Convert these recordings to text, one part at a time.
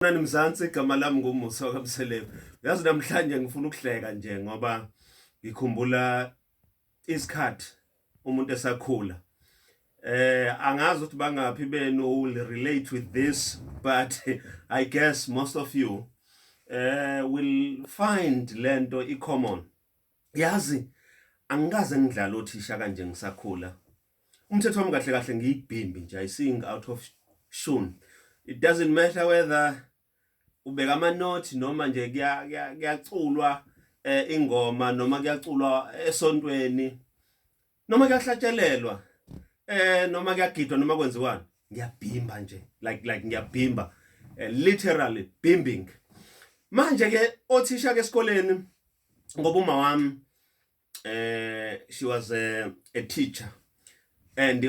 Sanibonani Mzansi, igama lami nguMusa kaMseleku. Yazi namhlanje ngifuna ukuhleka nje ngoba ngikhumbula isikhathi umuntu esakhula. Eh angazi ukuthi bangaphi benu will relate with this but I guess most of you eh will find lento i common. Yazi angikaze ngidlala othisha kanje ngisakhula. Umthetho wami kahle kahle ngiyibhimbi nje I sing out of tune. It doesn't matter whether ubeka ama note noma nje kuyaculwa eh, ingoma noma kuyaculwa esontweni noma kuyahlatshelelwa eh noma kuyagidwa noma kwenziwani ngiyabhimba nje like like ngiyabhimba eh, literally bimbing manje ke othisha ke esikoleni ngoba uma wami eh she was a, a teacher and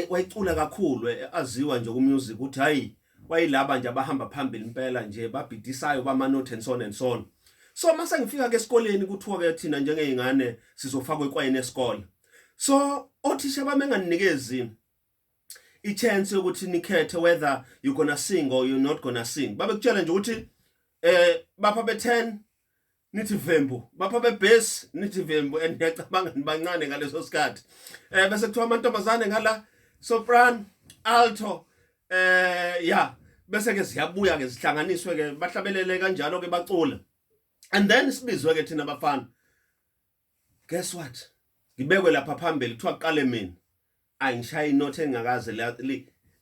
wayecula kakhulu eh, aziwa nje kumusic ukuthi hayi wayilaba nje abahamba phambili impela nje babhidisayo bama note and so on and so on so mase ngifika ke esikoleni kuthiwa ke thina njengezingane sizofakwa ekwayini esikole so othisha bami enganinikezi i chance yokuthi nikhethe whether you gonna sing or you not gonna sing babekutshela nje ukuthi eh bapha be 10 nithi vembu bapha bebase nithi vembu and ngiyacabanga nibancane ngaleso sikhathi eh bese kuthiwa amantombazane ngala soprano alto eh ya bese ke siyabuya ke sihlanganiswe ke bahlabelele kanjalo ke bacula and then sibizwe ke thina bafana guess what ngibekwe lapha phambili kuthiwa kuqale mina ayi ngishaya inothi engakaze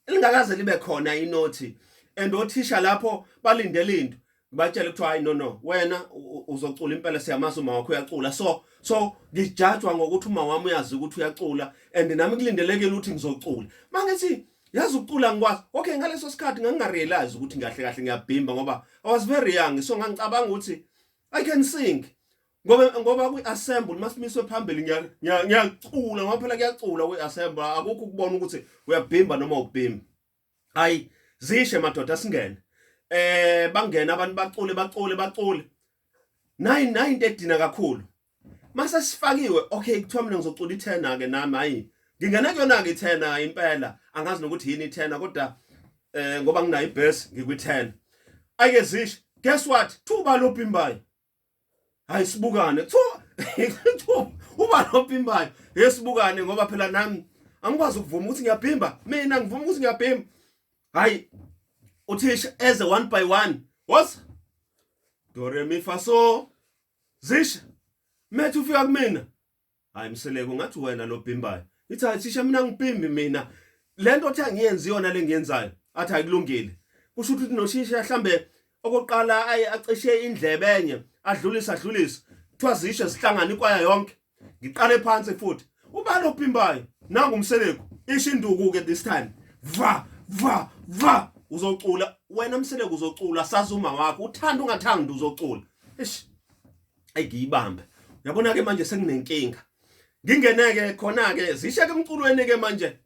lingakaze libe khona inothi and othisha lapho balindele into ngibatshele kuthiwa hayi no no wena uzocula impela siyamazi uma wakho uyacula so so ngijajwa ngokuthi uma wami uyazi ukuthi uyacula and nami kulindelekile ukuthi ngizocula mangithi yazi ukucula ngikwazi okay ngaleso sikhathi ngangingarealize ukuthi ngahle kahle ngiyabhimba ngoba i was very young so ngangicabanga ukuthi i can sing ngoba ngoba kwi-assemble masimiswe phambili ngiyacula ngoba phela kuyacula kwi-assemble akukho ukubona ukuthi uyabhimba noma ubhimba hayi zishe madoda singene eh bangena abantu bacule bacule bacule nayi nayi into edina kakhulu mase sifakiwe okay kuthiwa mina ngizocula ithena ke nami hayi ngingena kuyona ke ithena impela angazi nokuthi yini ithena kodwa eh ngoba nginayo ibase ngikwithena ayike zishe guess what thuba lobhimbayo hayi sibukane kuthiwa uba nopimbayo yesibukane ngoba phela nami angikwazi ukuvuma ukuthi ngiyabhimba mina ngivuma ukuthi ngiyabhimba hayi uthisha eze one by one was do re mi fa so zisha methi ufika kumina Hayi mseleko ngathi wena lo bhimbayo. Ithi hayi thisha mina ngibhimbi mina. Lento othi angiyenzi yona lengiyenzayo. Athi akulungile. Kusho ukuthi noshisha hlambe okoqala ayi acishe indlebe enye adlulisa adlulisa. Kuthiwa zisho zihlangana ikwaya yonke. Ngiqale phansi futhi. Ubani obhimbayo? Nangu umseleko. Isho induku ke this time. Va va va uzocula wena mseleko uzocula sazuma wakho uthanda ungathandi uzocula. Eish. engiyibambe yabona ke manje senginenkinga ngingeneke khona ke zishe ke emculweni ke manje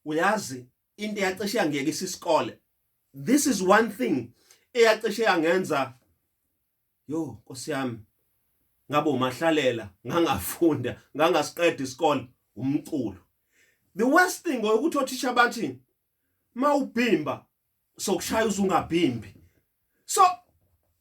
uyazi into eyacishe yangiyekisa isikole this is one thing eyacishe yangenza yo nkosi yami ngabo mahlalela ngangafunda ngangasiqeda isikole umculo the worst thing ukuthi othisha bathi mawubhimba sokushaya uzungabhimbi so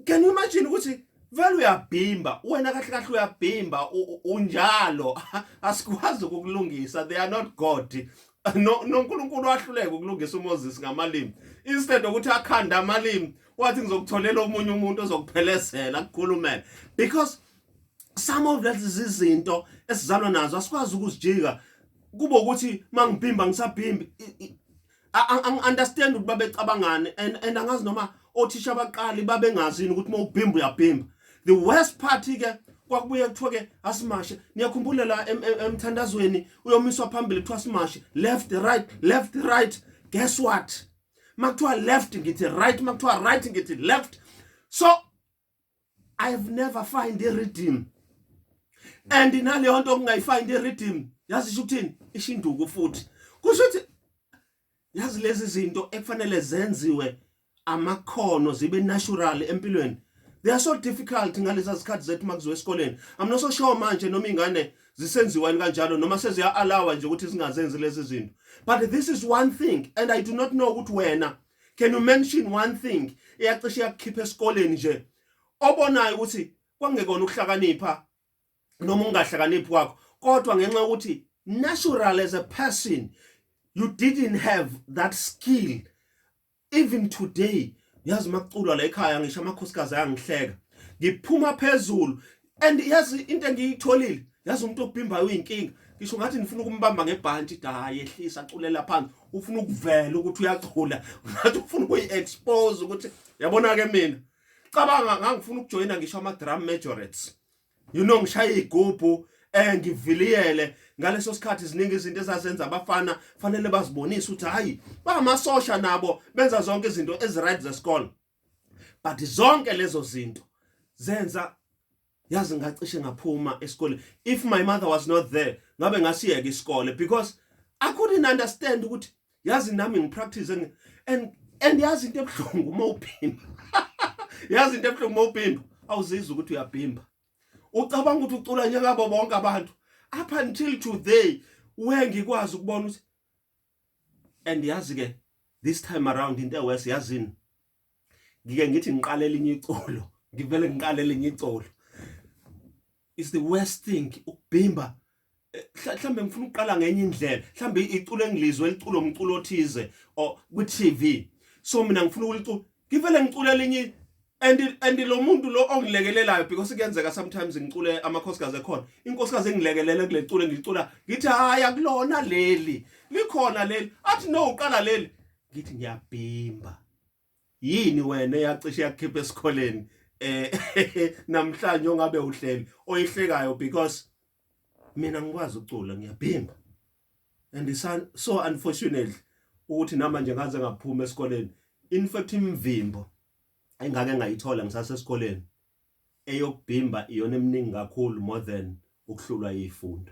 can you imagine ukuthi vele uyabhimba wena kahle kahle uyabhimba unjalo asikwazi ukukulungisa they are not god no noNkulunkulu wahluleka ukulungisa uMoses ngamalimi instead ukuthi akhanda amalimi wathi ngizokutholela omunye umuntu ozokuphelezela kukhulumela because some of lezi zinto esizalwa nazo asikwazi ukuzijika kube ukuthi mangibhimba ngisabhimbi ang understand ukuthi babecabangani and and angazi noma othisha abaqali babengazini ukuthi mawubhimba uyabhimba the worst part ke kwakubuye kuthiwa ke asimashe niyakhumbula la emthandazweni uyomiswa phambili kuthiwa simashe left right left right guess what makuthiwa left ngithi right makuthiwa right ngithi left so i have never find a rhythm and naleyo nto kungayifind a rhythm yazi isho ukuthini isho induku futhi kusho ukuthi yazi lezi zinto ekufanele zenziwe amakhono zibe natural empilweni they are so difficult ngalezi zikhathi zethu makuziwe esikoleni i'm not so sure manje noma ingane zisenziwani kanjalo noma seziya allow nje ukuthi zingazenzi lezi zinto but this is one thing and i do not know ukuthi wena can you mention one thing eyacishe yakukhipha esikoleni nje obonayo ukuthi kwangekona ukuhlakanipha noma ungahlakaniphi kwakho kodwa ngenxa ukuthi natural as a person you didn't have that skill even today yazi makuculwa la ekhaya ngisho amakhosikazi ayangihleka ngiphuma phezulu and yazi into engiyitholile yazi umuntu obhimbayo uyinkinga ngisho ngathi nifuna ukumbamba ngebhanti dayi ehlisa aculela phansi ufuna ukuvela ukuthi uyachula ngathi ufuna ukuyi-expose ukuthi yabona-ke mina cabanga ngangifuna ukujoyina ngisho ama-drum majorates you know ngishaya iy'gubhu eh ngiviliyele ngaleso sikhathi ziningi izinto ezazenza abafana fanele bazibonise ukuthi hayi bangamasosha nabo benza zonke izinto eziright zesikole but zonke lezo zinto zenza yazi ngacishe ngaphuma esikoleni if my mother was not there ngabe ngasiyeka isikole because i couldn't understand ukuthi yazi nami ngipractice and and, and yazi into ebuhlungu uma uphimba yazi into ebuhlungu uma uphimba awuzizwa ukuthi uyaphimba ucabanga ukuthi ucula nyaka bonke abantu up until today wengikwazi ukubona ukuthi and yazi ke this time around into ewes yazini ngike ngithi ngiqale elinye icolo ngivele ngiqale elinye icolo is the worst thing ukubhimba eh, mhlambe ngifuna ukuqala ngenye indlela mhlambe iculo engilizwe liculo umculo othize or kwi TV so mina ngifuna ukuliculo ngivele ngicule elinye and and lo muntu lo ongilekelelayo because kuyenzeka sometimes ngicule amakhosikazi ekhona inkosikazi engilekelela kulecule ngicula ngithi hayi akulona leli likhona leli athi no uqala leli ngithi ngiyabhimba yini wena eyacishe yakukhipha esikholeni eh namhlanje ongabe uhleli oyihlekayo because mina ngikwazi ukucula ngiyabhimba and it's so unfortunate ukuthi namanje ngaze ngaphuma esikoleni in fact imvimbo engake ngayithola ngisasesikoleni eyokubhimba iyona eminingi kakhulu more than ukuhlulwa yifundo